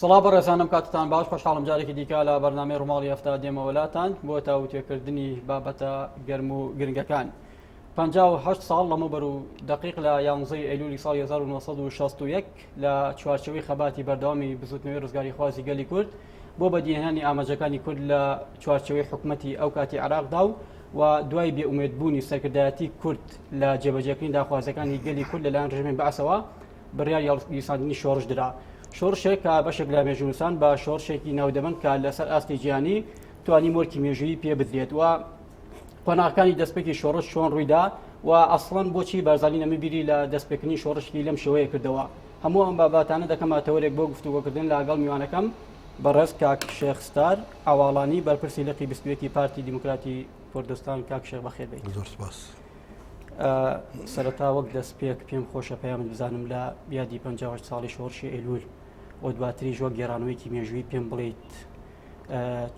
سڵاو بەڕێزانم کاتتان باش خۆشحاڵم جارێکی دیکە لە بەرنامەی ڕوماڵی ئەفتا دێمەوەلاتان بۆ تاوتێکردنی بابەتە گەرم و گرنگەکان. 1950 ساڵ لەمە بەر و دقیق لە یانزەی ئەیلولی ساڵ 1960 لە چوارچەوەی خەباتی بەردەوامی بزوتنەوەی ڕزگاری خوازی گەلی کورد بۆ بەدیهێنانی ئاماجەکانی کورد لە چوارچەوەی حکوومەتتی ئەو کاتی عراقدا و و دوای بێ ئومێد بوونی سەرکردایەتی کورد لە جێبەجێکردنی داخوازەکانی گەلی کورد لەلایەن ڕژێمی بەعسەوە بڕیار یاڵساندنی شۆڕش درا شۆڕشێک کە بەشێک لە مێژونوسان بە شۆڕشێکی ناودەبن کە لەسەر ئاستی جیانی توانی مۆرکی مێژویی پێ بدرێت و قۆناغەکانی دەستپێکی شۆڕش چۆن ڕوویدا و ئەسڵەن بۆچی بارزانانی نەمەبیری لە دەستپێکردنی شۆڕشی لەم شێوەیە کردەوە هەموو ئەم باباتانە دەکەمە تەوەرێک بۆ گفتوگۆکردن لاگەڵ میوانەکەم بەڕێز کاک شێخ ستار عەواڵانی بەرپرسی لقی بیست و یەکی پارتی دیموکراتی کوردستان کاک شێخ بەخێربێیت زۆر سپاس. سەرەتا وەک دەست پێک پێم خۆشە پەیامت بزانم لە یادی 50 ساڵی شۆڕشی ئەیلول و دواتریش وەک گێرانەوەیکی مێژووی پێم بڵیت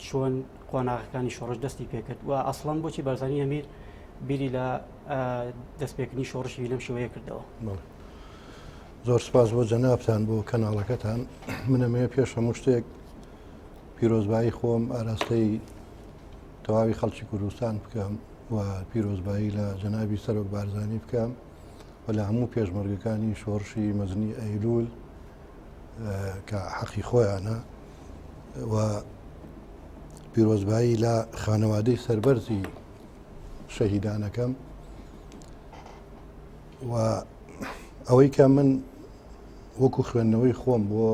چۆن قۆناغەکانی شۆڕش دەستی پێکرد و ئەسڵەن بۆچی بەرزانی هەمیر بیری لە دەستپێکردنی شۆڕشی لەم شێوەیە کردەوە زۆر سپاس بۆ جەنابان بۆ کەناڵەکەتان منەمەیە پێش هەموو شتێک پیرۆزبایی خۆم ئاراستەی تەواوی خەڵکی کوردستان بکەم و پیرۆزبایی لە جەنابی سەرۆک بارزانانی بکەم و لە هەموو پێشمەرگەکانی شۆڕشی مەزنی ئەیلول کە حەقی خۆیانە و پیرۆزبایی لە خانەوادەی سربەرزی شەهیدانەکەم و ئەوەی کە من وەکو خوێندنەوەی خۆم بۆ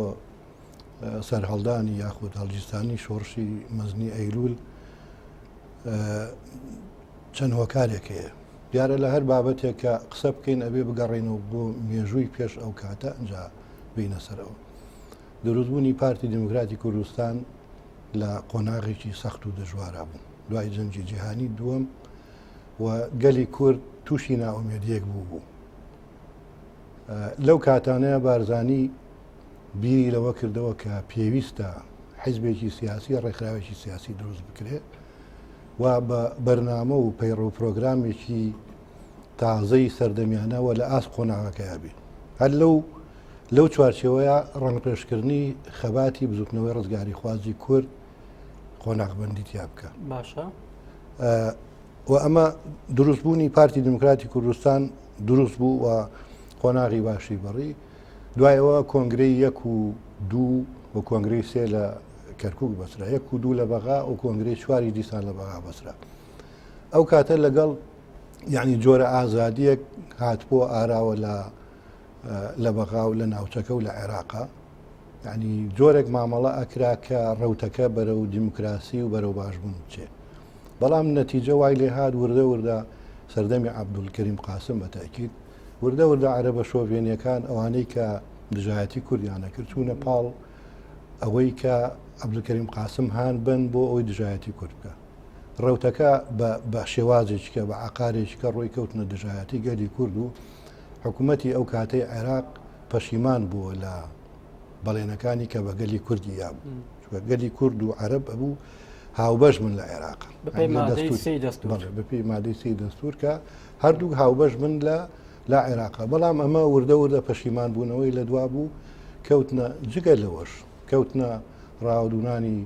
سەرهەڵدانی یاخود هەڵگیرسانی شۆڕشی مەزنی ئەیلول چەند هۆکارێک هەیە دیارە لە هەر بابەتێک کە قسە بکەین ئەبێ بگەڕێنەوە بۆ مێژووی پێش ئەو کاتە ئەجا بینە سەرەوە دروستبوونی پارتی دموکراتی کوردستان لە قۆناغێکی سەخت و دەژوارا بوو دوای جەنجی جیهانی دووەم و گەلی کورد تووشی نائومێدیەک بوو بوو لەو کاتانەیە بارزانی بیری لەوە کردەوە کە پێویستە حیزبێکی سیاسی ڕێکخراوێکی سیاسی دروست بکرێت و بە بەرنامە و پەیڕە و پرۆگرامێکی تازەی سەردەمیانەوە لە ئاست قۆناغەکەیا بێت هەر لەو لەو چوارچەوەیە ڕەنگپێشکردنی خەباتی بزوتنەوەی ڕزگاری خوازی کورد قۆناغبندی تیا بکە باشە و ئەمە دروستبوونی پارتی دموکراتی کوردستان دروست بوو و قۆناغی باشی بڕی دوایەوە کۆنگری یەک و دوو و کۆنگری سێ لە کەرکک بەسرا یەک و دوو لە بەغا و کۆنگری چواری دیسان لە بەغا بەسرا ئەو کاتە لەگەڵ یعنی جۆرە ئازادیەک هاتبووە ئاراوە لە لە بەغا و لە ناوچەکە و لە عێراقا یانی جۆرێک مامەڵە ئەکرا کە ڕوتەکە بەرەو دیموکراسی و بەرەو باشبوون بچێ بەڵام نەتیجە وای لێ هاات وردە وردە سەردەمی عبدولکەریم قاسم بەتەکیت وردە وردە عرە بە شۆڤێنیەکان ئەوانەی کە دژایەتی کوردیانە کرد چوونە پاڵ ئەوەی کە عبدولکەریم قاسم هاان بن بۆ ئەوی دژایەتی کورد بکە ڕوتەکە بە شێوازێکە بە عقارێکە ڕۆی کەوتنە دژایەتی گەلی کورد و حکومەتی ئەو کاتەی عێراق پەشیمان بووە لە بەڵێنەکانی کە بە گەلی کوردی یاب گەلی کورد و عرب ئەبوو هاوبەش من لە عێراق بەپی مادەی سی دەستور کە هەردوو هاوبەش من لە لا عێراق بەڵام ئەمە وردە وردە پەشیمان بوونەوەی لە دوا بوو کەوتنە جگە لەوەش کەوتنە ڕاودونانی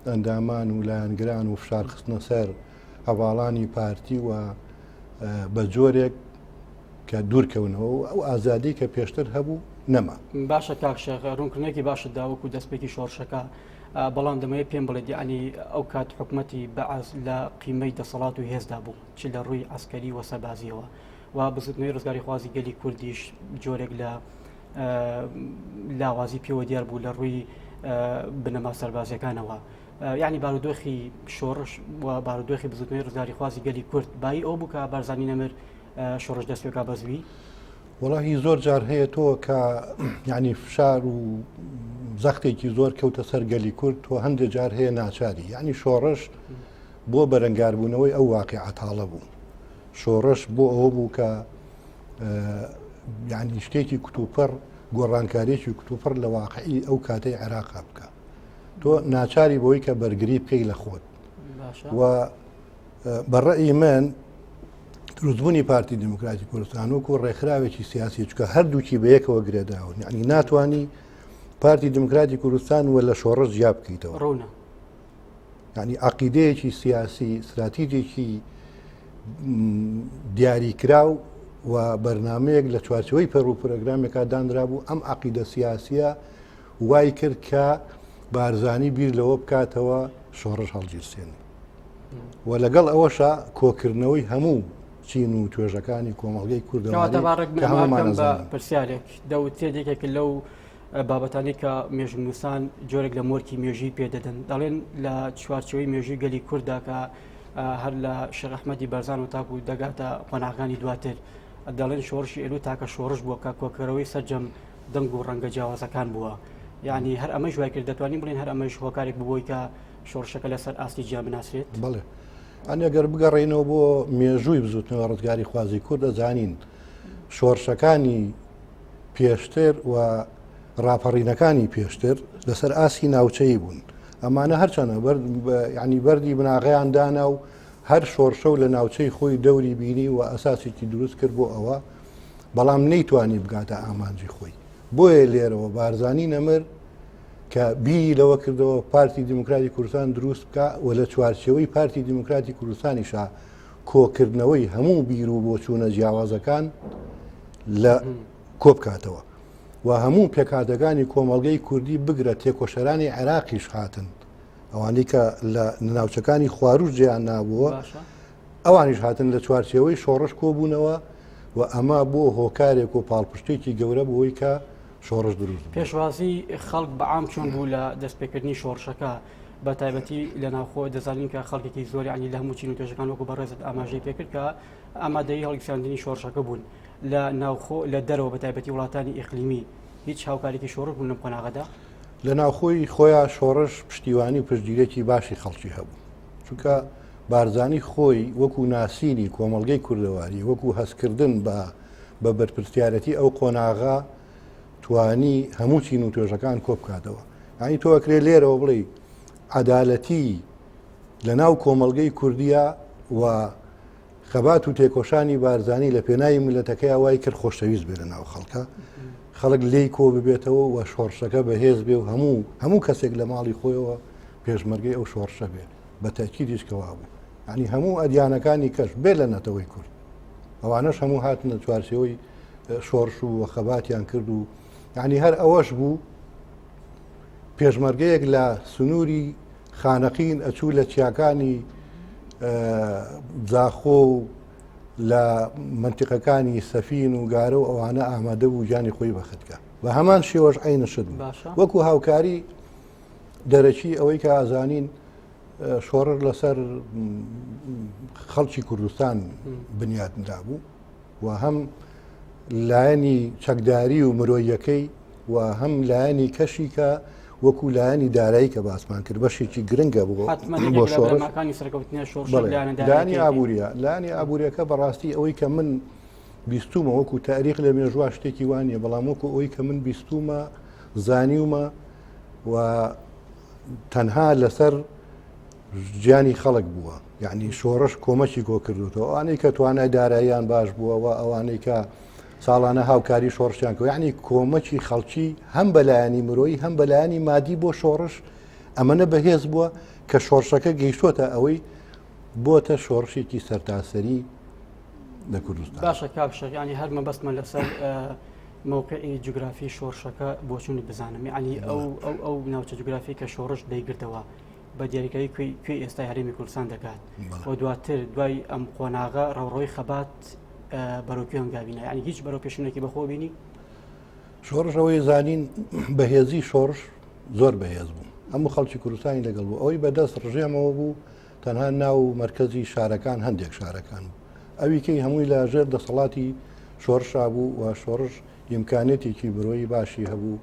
ئەندامان و لایەنگران و فشارخستنە سەر هەواڵانی پارتی و بە جۆرێک کە دوورکەونەوە و ئەو ئازادی کە پێشتر هەبوو نەما باشە کاکشێخ ڕوونکردنێکی باشە داوەکو دەستپێکی شۆڕشەکە بەڵام دەمەیە پێم بڵێت ینی ئەو کات حکوومەتتی بەعاز لە قیمەی دەسەڵات و هێزدا بوو چ لە ڕووی ئەسکەری وە سەبازیەوە و بزنەوەی ڕزگاری خوازی گەلی کوردیش جۆرێک لە لاوازی پێوە دیار بوو لە ڕووی بنەما سەربازیەکانەوە. یانی بارودۆخی شۆڕش و بارودۆخی بزوتنەوەی ڕزگاریخوازی گەلی کورد بایی ئەو بووکە بارزانانی نەمر شۆڕش دەستێکا بەزوی وڵی زۆر جار هەیە تۆ کە یعنی فشار و زەختێکی زۆر کەوتە سەر گەلی کورد تۆ هەندێک جار هەیە ناچاری یعنی شۆڕش بۆ بەرەنگاربوونەوەی ئەو واقع عتاڵە بوو شۆڕش بۆ ئەوە بوو کە یعنی شتێکی کتوپڕ گۆڕانکارێکی کتوپڕ لە واقعی ئەو کاتەی عێراقا بکە تۆ ناچاری بۆی کە بەرگری بکەی لە خۆت و بەڕێی من دروستبوونی پارتی دموکراتی کوردستان وکو ڕێکخراوێکی سیاسی چکە هەردووکی بەیەکەوە گرێداون یعنی ناتانی پارتی دموکراتی کوردستان و لە شۆڕش جیا بکەیتەوە ڕوونە ینی عقیدەیەکی سیاسی استراتیجێکی دیاریکراو و بەرنمەیەک لە چوارچەوەی پەر و پرۆگرامێکا دانرابوو ئەم عقیدە سیاسیە وای کرد کە بارزانی بیر لەوە بکاتەوە شۆڕش هەڵگیرسێنی و لەگەڵ ئەوەشە کۆکردنەوەی هەموو چین و توێژەکانی کۆمەڵگەی کوردەوە پرسیارێک دەوت تێدێکێک لەو بابەتانی کە مێژنووسان جۆرێک لە مۆرکی مێژی پێدەدەن دەڵێن لە چوارچەوەی مێژوی گەلی کووردا کە هەر لە شەرەحمەدی بەرزان و تاکو دەگاتە قۆناغانی دواتر دەڵێن شۆڕشی ئێلو تاکە شۆڕش بووە کە کۆکەرەوەی سەررجەم دەنگ و ڕەنگە جیاوازەکان بووە یعنی هەر ئەمەش وای کرد دەتوانین بڵین هەر ئەمەش هۆکارێک ببووی کە شۆڕشەکە لەسەر ئاستی جیا بناسرێت بڵێ ئەنێگەر بگەڕێنەوە بۆ مێژووی بزوتنەوە ڕزگاری خوازی کوردە زانین شۆڕشەکانی پێشتر و ڕاپەڕینەکانی پێشتر لەسەر ئاسی ناوچەی بوون ئەمانە هەرچەنە ینی بەری بناغیان دانا و هەر شۆرشە و لە ناوچەی خۆی دەوری بینی و ئەساسێکی دروست کرد بۆ ئەوە بەڵام نەیتوانی بگاتە ئامانجی خۆی بۆیە لێرەوە بارزانانی نەمر کە بیری لەوە کردەوە پارتی دیموکراتی کوردستان دروست بکە و لە چوارچەوەی پارتی دیموکراتی کوردستانیشە کۆکردنەوەی هەموو بیر و بۆچوونە جیاوازەکان لە کۆبکاتەوە و هەموو پێکاتەکانی کۆمەڵگەی کوردی بگرە تێکۆشەرانی عێراقیش هاتن ئەوانەی کە لە ناوچەکانی خواروش جیان نابووە ئەوانیش هاتن لە چوارچێوەی شۆڕش کۆبوونەوە و ئەمە بۆ هۆکارێک و پاڵپشتێکی گەورە بۆی کە شۆڕش دروست پێشوازی خەڵک بەعام چۆن بوو لە دەستپێکردنی شۆڕشەکە بە تایبەتی لە ناوخۆ دەزانین کە خەڵکێکی زۆری عنی لە هەمووچین و توێژەکان وەکو بەڕێزت ئاماژەی پێکرد کە ئامادەی هەڵکساندنی شۆڕشەکە بوون لە ناوخۆ لە دەرەوە بە تایبەتی وڵاتانی ئیقلیمی هیچ هاوکارێکی شۆڕ بوون لەم قۆناغەدا لە ناوخۆی خۆیان شۆڕش پشتیوانی و پشتگیرێکی باشی خەڵکی هەبوو چونکە بارزانی خۆی وەکو ناسینی کۆمەڵگەی کوردەواری وەکو هەستکردن بە بە بەرپرسیارەتی ئەو قۆناغا توانی هەموو چین و توێژەکان کۆ بکاتەوە ئەنی تۆ ئەکرێ لێرەوە بڵێ عدالەتی لە ناو کۆمەلگەی کوردیا و خەبات و تێکۆشانی بارزانانی لە پێناوی ملەتەکەی وای کرد خۆشەویست بێ لە ناو خەڵکە خەڵک لێی کۆ ببێتەوە و شۆڕشەکە بەهێز بێ و هەموو هەموو کەسێک لە ماڵی خۆیەوە پێشمەرگەی ئەو شۆڕشە بێ بە تەکیدیش کە وابوو ینی هەموو ئەدیانەکانی کەش بێ لە نەتەوەی کورد ئەوانەش هەموو هاتنە چوارچەوەی شۆرش و وە خەباتیان کرد و ینی هەر ئەوەش بوو پێشمەرگەیەک لە سنووری خانەقین ئەچوو لە چیاکانی زاخۆ و لە منتیقەکانی سەفین و گارە و ئەوانە ئامادە بوو گیانی خۆی بەختکە بە هەمان شێوەش عینە شت وەکو هاوکاری دەرەکی ئەوەی کە ئازانین شۆڕر لەسەر خەڵکی کوردستان بنیاتنرا بوو و هەم لایەنی چەکداری و مرۆیەکەی و هەم لایەنی کەشی کە وەکو لایەنی دارایی کە باسمان کرد بەشێکی گرنگە بوو بۆ شۆڕەکانی سەرکەوتنی شۆڕدانی ئابوووریە لانی ئابوووریەکە بەڕاستی ئەوەی کە من بیستومە وەکو تاریخ لە مێژوا شتێکی وانە بەڵام وەکو ئەوی کە من بیستومە زانیومە و تەنها لەسەر گیانی خەڵک بووە یعنی شۆڕش کۆمەکی گۆ کردوەوە ئەوانەی کە توانای داراییان باش بووەوە ئەوانەی کە ساڵانە هاوکاری شۆڕشیان کە یعنی کۆمەکی خەڵکی هەم بەلایەنی مرۆیی هەم بەلایەنی مادی بۆ شۆڕش ئەمەە بەهێز بووە کە شۆڕشەکە گەیشتوتە ئەوەی بۆتە شۆڕشێکی سەرتاسەری لە کوردستان باشە کاک شەق ینی هەر مەبەستمە لەسەر مووقعی جوگرافی شۆڕشەکە بۆچوونی بزانم ینی ئەو ئەو ئەو ناوچە جوگرافی کە شۆڕش دەیگرتەوە بە دیاریکەی کوێ ئێستا هەرێمی کوردستان دەکات و دواتر دوای ئەم قۆناغە ڕەوڕۆی خەبات بەرەوکوێن گاوینە ینی هیچ بەرەو پێشونێکی بەخۆ بینی شۆڕشەوەی زانین بەهێزی شۆڕش زۆر بەهێز بوو هەموو خەڵکی کوردستانی لەگەڵ بوو ئەوەی بەدەست ڕژێمەوە بوو تەنها ناو و مەرکەزی شارەکان هەندێک شارەکان بوو ئەوی کەی هەمووی لە ژێر دەسەڵاتی شۆرشا بوو و شۆڕش ئیمکانێتێکی مرۆیی باشی هەبوو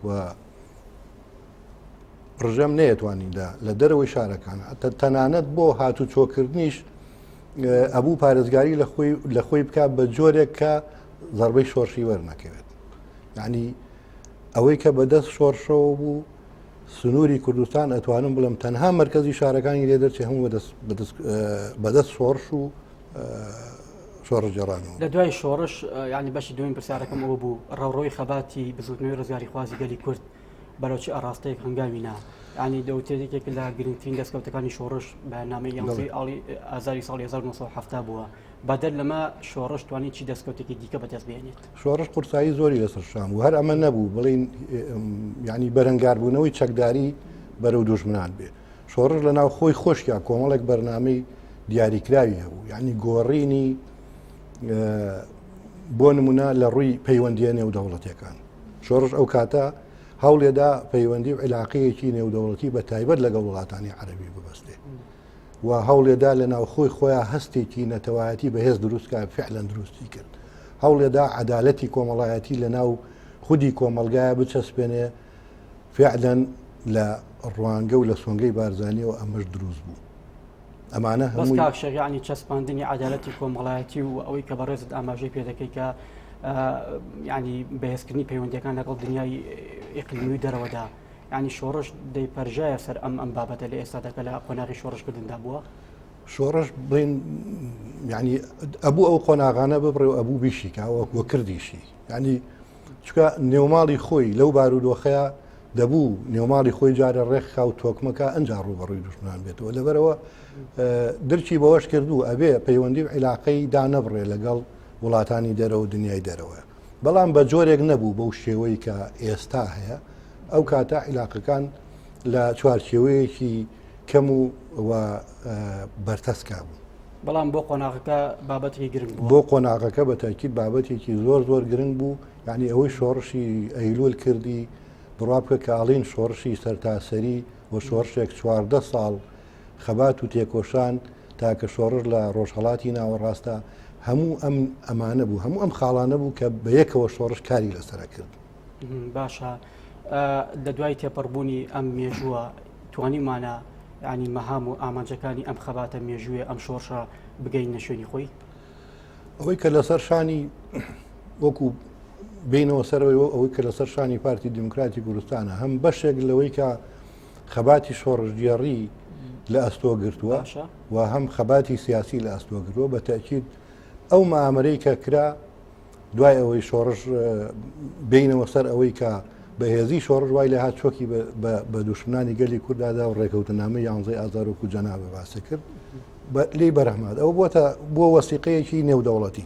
و ڕژێم نەیەتوانیدا لە دەرەوەی شارەکان ئەتە تەنانەت بۆ هاتو چۆکردنیش ئەبوو پارێزگاری لە خۆی لە خۆی بک بە جۆرێک کە زربەی شۆرشی وەرنەکەوێت یعنی ئەوەی کە بەدەست شۆرشەوە بوو سنووری کوردستان ئەتوانم بڵم تەنها مرکزی شارەکانی لێ دەرچێ هەموو بەدەست شۆڕش و شۆڕ جێڕان لە دوای شۆڕش ینی بەشی دوین پرسیارەکەم ئەوە بوو ڕەڕۆی خەباتی بزوتنەوەی ڕزگاری خوازی گەلی کورد بەرەوچی ئاراستەیەک هەنگاوی نا ینی دەوتێتێک لە گرنگترین دەستکەوتەکانی شۆڕش بە نامی یانزی ئاڵی ئازاری ساڵ 1970 بووە بەدەر لەمە شۆڕش توانانی چی دەستکەوتێکی دیکە بەدەست بێنێت. شۆڕش قورسایی زۆری لەسەر شان و هەر ئەمە نەبوو بڵین ینی بەرەنگاربوونەوەی چەکداری بەرەو دوژمنان بێ شۆڕش لە ناو خۆی خۆشیا کۆمەڵێک بەرنمەی دیاریکراوی هەبوو ینی گۆڕینی بۆ نمونە لە ڕووی پەیوەندیە نێودەوڵەتەکان شۆڕش ئەو کاتە هەوڵێدا پەیوەندی و علاقەیەکی نێودەوڵەتی بە تایبەت لەگەڵ وڵاتانی عەربی ببەستێ و هەوڵێدا لە ناوخۆی خۆیان هەستێکی نەتەوایەتی بەهێز دروستکە فعلەن دروستی کرد هەوڵێدا عدالەتی کۆمەڵایەتی لە ناو خودی کۆمەلگایە بچەسپێنێ فعلەن لە ڕوانگە و لە سۆنگەی بارزانانیەوە ئەمەش دروست بوو ئەمانە هەموو شەریانی چەسپاندنی عدالەتی کۆمەڵایەتی و ئەوەی کە بەڕێزت ئاماژەی پێدەکەی کە ینی بەهێزکردنی پەیوەندەکان لەگەڵ دنیای ئقلیمی دەرەوەدا یانی شۆڕش دەیپەرژایە سەر ئەم ئەم بابەتە لە ئێستادا کە لە قۆناغی شۆڕشکردندا بووە شۆڕش بڵین ینی ئەبوو ئەو قۆناغانە ببڕێ و ئەبوو بیشیکاوە وە کردیشی ینی چکە نێوماڵی خۆی لەو بارودۆخەیە دەبوو نێوماڵی خۆی جارە ڕێکخا و تۆکمەکە ئەجا ڕوبەڕووی دژمان بێتەوە لەبەرەوە درچی بەوەش کردو ئەبێ پەیوەندی و عیلاقەی دانەبڕێ لەگەڵ وڵاتانی دەرەوە دنیای دەرەوەە بەڵام بە جۆرێک نەبوو بەو شێوەی کە ئێستا هەیە ئەو کاتە عیلاقەکان لە چوارچێوەیەکی کەم و بەرتەسکا بوو بەڵام بۆ قۆناغەکە بابەتێکی گرنگ بۆ قۆناغەکە بە تاکیید بابەتێکی زۆر زۆر گرنگ بوو یعنی ئەوەی شۆڕشی ئەیلول کردی بڕا بکە کاڵین شۆڕشی سەرتاسەری و شۆڕشێک چواردە ساڵ خەبات و تێکۆشان تاکە شۆڕش لە ڕۆژهڵاتی ناوەڕاستە هەموو ئەم ئەمانە بوو هەموو ئەم خاڵانە بوو کە بە یەکەوە شۆڕش کاری لەسرە کرد باشە لە دوای تێپەڕبوونی ئەم مێژووە توانیمانە ینی مەهام و ئامانجەکانی ئەم خەباتە مێژووێ ئەم شۆڕشە بگەین نە شوێنی خۆی ئەوەی کە لەسەر شانی وەکو بینەوە سەرەوەی ئەوەی کە لەسەر شانی پارتی دیموکراتی کوردستانە هەم بەشێک لەوەی کە خەباتی شۆڕژگێڕی لە ئەستۆ گرتووە باشە و هەم خەباتی سیاسی لە ئەستۆ گرتووە بە تاکیید ئەو مامرەی کە کرا دوای ئەوەی شۆڕش اه، بینەوە سەر ئەوەی کە بەهێزی شۆڕش وای لە هات چۆکی بە- بە- بە دوشمنانی گەلی کوردادا و ڕێکەوتنامە یانزەی ئازارۆک و جەنابە باسە کرد بە- لێی بەرەحمات ئەو بۆتە بۆ وەسیقەیەکی نێودەوڵەتی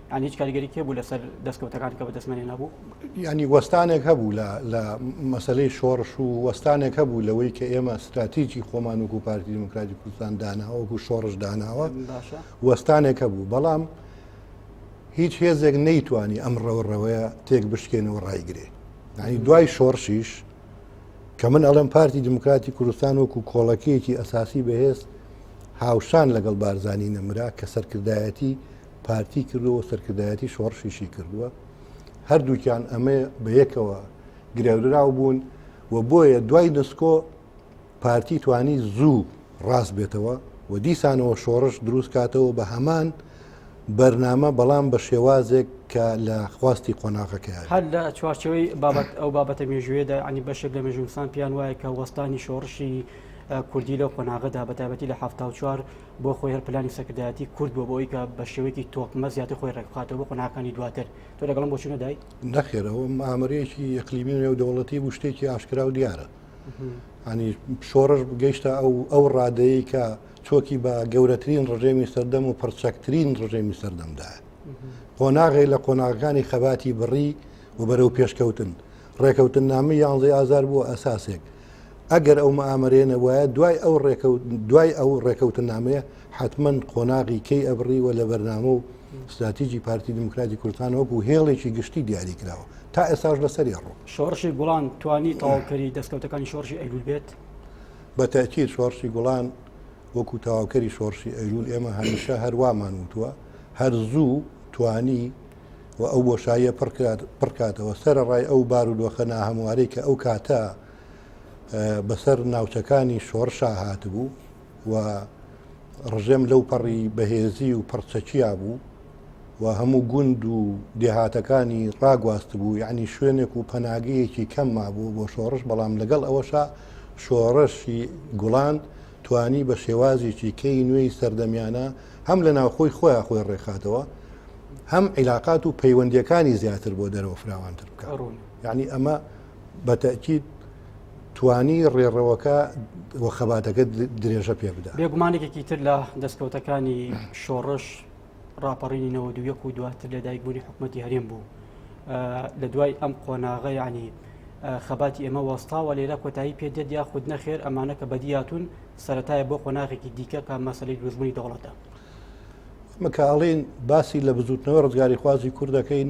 یان هیچ کاریگەریی هەبوو لەسەر دەستکەوتەکان کە بەدەستمەنێ نەبوو؟ یانی وەستانێک هەبوو لە مەسلەی شۆڕش و وەستانێک هەبوو لەوەی کە ئێمە ستراتیجی خۆمان وەکو پارتی دیموکراتی کوردستان داناوە وەکو شۆڕش داناوە وەستانێک هەبوو بەڵام هیچ هێزێک نەیتوانی ئەم ڕەوڕەوەیە تێک بشکێنەوە ڕایگرێ ینی دوای شۆڕشیش کە من ئەڵێم پارتی دیموکراتی کوردستان وەکو کۆڵەکەیەکی ئەساسی بەهێز هاوشان لەگەڵ بارزانانی نەمرا کە سەرکردایەتی پارتی کردووە سەرکردایەتی شۆڕشیشی کردووە هەردووکیان ئەمە بە یەکەوە گرێدراو بوون و بۆیە دوای نسکۆ پارتی توانی زوو ڕاست بێتەوە و دیسانەوە شۆڕش دروست کاتەوە بە هەمان بەرنامە بەڵام بە شێوازێک کە لە خواستی قۆناغەکە هەر لە چوارچەوەی بابەت ئەو بابەتە مێژوێدا عنی بەشێک لە مێژونسان پێیان وایە کە وەستانی شۆڕشی کوردی لەو قۆناغەدا بەتابەتی لە ه چوار بۆ خۆی هەر پلانی سەرکردایەتی کورد بۆ بۆی کە بە شێوەیەکی تۆکمە زیاتر خۆی ڕێکخاتەوە بۆ قۆناکانی دواتر تۆ لەگەڵم بۆچوونە دای نەخێرەوە ئامرێکی یەکلیمی نێو دەوڵەتی بوو شتێکی ئاشکرا و دیارە هەنی شۆڕش گەیشتە ئەو ئەو ڕادەیە کە چۆکی بە گەورەترین ڕژێمی سەردەم و پڕچەکترین ڕژێمی سەردەمدا قۆناغی لە قۆناغەکانی خەباتی بڕی و بەرەو پێشکەوتن ڕێکەوتن نامی یانزەی ئازار بووە ئەساسێک ئەگەر ئەو مئامەرەیە نەبوایە دوای ئەو ڕێکەوت دوای ئەو ڕێکەوتنامەیە حتمما قۆناغی کەی ئەبڕی و لە بەرنامە و استراتیجی پارتی دیموکراتی کوردستان وەکو هێڵێکی گشتی دیاری کراوە تا ئێستاش لەسەری ڕۆ شۆڕشی گوڵان توانی تەواوکەری دەستکەوتەکانی شۆڕشی ئەلول بێت بە تاکییر شۆڕشی گوڵان وەکو تەواوکەری شۆڕشی ئەلول ئێمە هەمیشە هەروامان وتووە هەر زوو توانی و ئەو بۆشاییە پڕکات پڕکاتەوە سەرڕای ئەو بارودۆخە ناهەموارەی کە ئەو کاتە بەسەر ناوچەکانی شۆڕشا هاتبوو و ڕژێم لەو پەڕی بەهێزی و پڕچەکیا بوو و هەموو گوند و دێهاتەکانی ڕاگواست بوو یعنی شوێنێک و پەناگەیەکی کەم مابوو بۆ شۆڕش بەڵام لەگەڵ ئەوەشا شۆڕشی گوڵان توانی بە شێوازێکی کەی نوێی سەردەمیانە هەم لە ناوخۆی خۆیان خۆی ڕێکخاتەوە هەم عیلاقات و پەیوەندیەکانی زیاتر بۆ دەرەوە فراوانتر بکە یعنی ئەمە بە تەئکید توانی ڕێڕەوەکە و خەباتەکە درێژە پێ بدا. بێگومانێکێکی تر لە دەستکەوتەکانی شۆڕش ڕاپەڕینی نەوە دو یەک و دواتر لەدایکبوونی حکوومەتتی هەرێم بوو. لە دوای ئەم قۆناغە یعنی خەباتی ئێمە وەستاوە لێرە کۆتایی پێ دێت یا خود نەخێر ئەمانە کە بەدیاتون سەتایە بۆ قۆناغێکی دیکە کە مەسلی دروژبوونی دەوڵەتە. مکاڵین باسی لە بزوتنەوە ڕزگاری خوازی کوردەکەین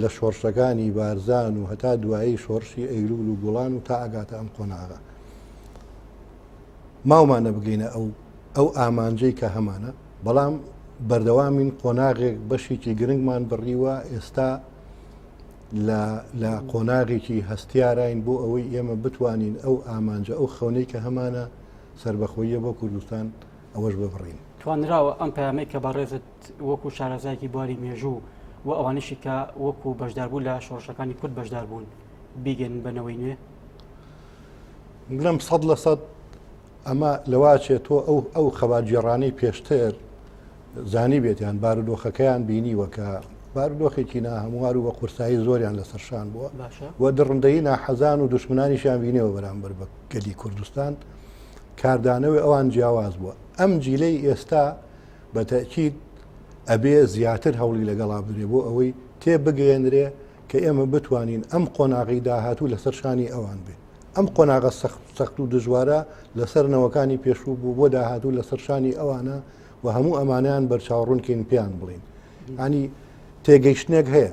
لە شۆڕشەکانی بارزان و هەتا دوایی شۆڕشی ئەیلول و گوڵان و تا ئەگاتە ئەم قۆناغە ماومانە بگەینە ئەو ئەو ئامانجەی کە هەمانە بەڵام بەردەوامین قۆناغێک بەشێکی گرنگمان بڕیوە ئێستا لە قۆناغێکی هەستیاراین بۆ ئەوەی ئێمە بتوانین ئەو ئامانجە ئەو خەونەی کە هەمانە سربەخۆیە بۆ کوردستان ئەوەش ببڕین توانراوە ئەم پامەی کە بەڕێزت وەکو شارەزایەکی بواری مێژوو و ئەوانیشی کە وەکو بەشداربوو لە شۆڕشەکانی کورد بەشدار بوون بیگەن بەنەوەی نوێ بڵم سەد لە سەد ئەمە لەواچێت تۆ ئەو ئەو خەباتگێڕانەی پێشتر زانی بێتیان بارودۆخەکەیان بینی وەکە بارودۆخێکی نا هەموار و بە قورسایی زۆریان لە سەرشان بووە و دڕندەی ناحەزان و دشمنانیشیان بینەوە بەرامبەر بە گەلی کوردستان کاردانەوەی ئەوان جیاواز بووە ئەم جیلەی ئێستا بە تەئکید ئەبێ زیاتر هەوڵی لەگەڵا بدرێ بۆ ئەوەی تێ بگەیەنرێ کە ئێمە بتوانین ئەم قۆناغی داهاتوو لەسەر شانی ئەوان بێ ئەم قۆناغە سەخت و دژوارە لەسەر نەوەکانی پێشوو بوو بۆ داهاتوو لەسەر شانی ئەوانە و هەموو ئەمانیان بەرچاوڕونکەین پێیان بڵین ینی تێگەیشتنێک هەیە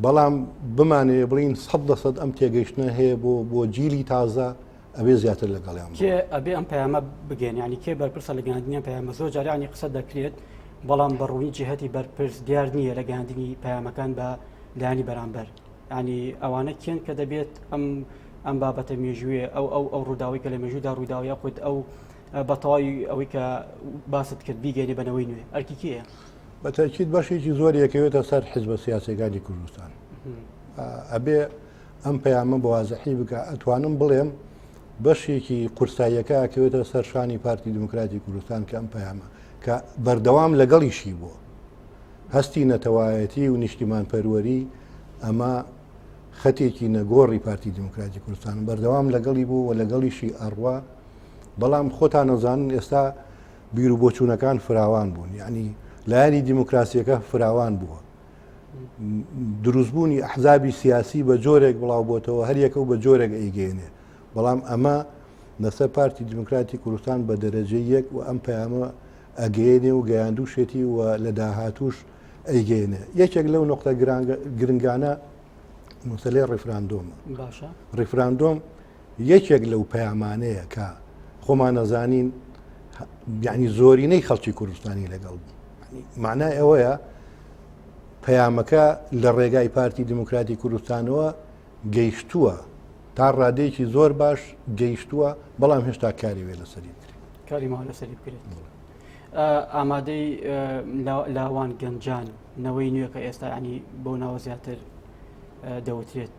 بەڵام بمانەیە بڵین سەد لە سەد ئەم تێگەیشتنە هەیە بۆ بۆ جیلی تازە ئەبێ زیاتر لەگەڵیان کێ ئەبێ ئەم پەیامە بگەێن ینی کێ بەرپرسە لە گەاندنیان پەیامە زۆر جارانی قسە دەکرێت بەڵام بەڕوونی جهتی بەرپرس دیار نییە لە گەاندنی پەیامەکان بە لایانی بەرامبەر ینی ئەوانە کێن کە دەبێت ئەم ئەم بابەتە مێژوێ ئەو ئەو ئەو ڕووداوی کە لە مێژودا ڕووداوی یاخود ئەو بەتەواوی ئەوەی کە باست کرد بیگەێنێ بەنەوەی نوێ ئەرکی کێە بەتەکیت بەشێکی زۆر یەکەوێتە سەر حزبە سیاسەکانی کوردستان ئەبێ ئەم پەیامە بە وازحی بکە ئەتوانم بڵێم بەشێکی قورساییەکە ئەکەوێتە سەر شانی پارتی دموکراتی کوردستان کە ئەم پەیامە کە بەردەوام لەگەڵیشی بووە هەستی نەتەوایەتی و نیشتیمان پەروەری ئەمە خەتێکی نەگۆڕی پارتی دموکراتی کوردستان بەردەوام لەگەڵی بوو و لەگەڵیشی ئەڕوا بەڵام خۆتان نەزانن ئێستا بیر و بۆچوونەکان فراوان بوون یعنی لایەنی دیموکراسیەکە فراوان بووە دروستبوونی ئەحزابی سیاسی بە جۆرێک بڵاو بۆتەوە هەریەکە و بە جۆرێک ئەیگەێنێ بەڵام ئەمە لەسەر پارتی دیموکراتی کوردستان بە دەرەجە یەک و ئەم پەیامە ئەگەێنێ و گەیاندوشێتی و لە داهاتوش ئەیگەێنێ یەکێک لەو نقطە گرنگانە مسلەی ڕیفراندۆم ڕیفراندۆم یەکێک لەو پەیامانەیە کە خۆمان نەزانین یعنی زۆرینەی خەڵکی کوردستانی لەگەڵ بوو معنای ئەوەیە پەیامەکە لە ڕێگای پارتی دیموکراتی کوردستانەوە گەیشتووە تا ڕادێکی زۆر باش گەیشتووە بەڵام هێشتا کاری وێ لەسەری بکرێت کاری ما لەسەری بکرێت ئامادەی لاوان گەنجان نەوەی نوێکە ئێستا ینی بۆ ناوە زیاتر دەوترێت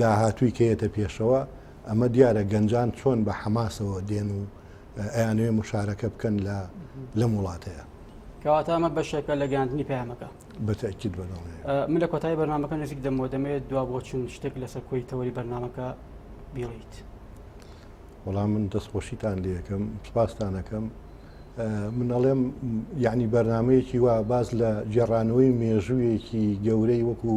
داهاتووی کەیەتە پێشەوە، ئەمە دیارە گەنجان چۆن بە حەماسەوە دێن و ئەیانەوێ مشارەکە بکەن لە لەم وڵاتەیە. کەواتە ئەمە بەشێکە لە گەاندنی پەیامەکە بەتەکیت بە من لە کۆتایی بەرنمەکە نزیک دەمەوە دەمەوێت دوا بۆ چون شتێک لەسەر کۆی تەوەری بەرنمەکە بیڵیت وەڵام من دەستخۆشیتان لەکەم سپاستانەکەم من ئەڵێم یعنی بەرنمەیەکی وا باز لە جێڕانەوەی مێژوویەکی گەورەی وەکو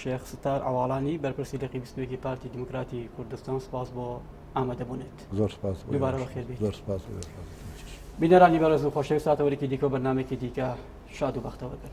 شێخ ستار عەواڵانی بەرپرسی دەقی بیست و یەکی پارتی دیموکراتی کوردستان سپاس بۆ ئامادەبوونت زۆر سپاس بۆ دوبارە بەخێر بێت. زۆر سپاس بۆ ئێوەش. بینەرانی بەڕێز و خۆشەویست ساتەوەرێکی دیکە و بەرنمێکی دیکە شاد و بەختەوە بن.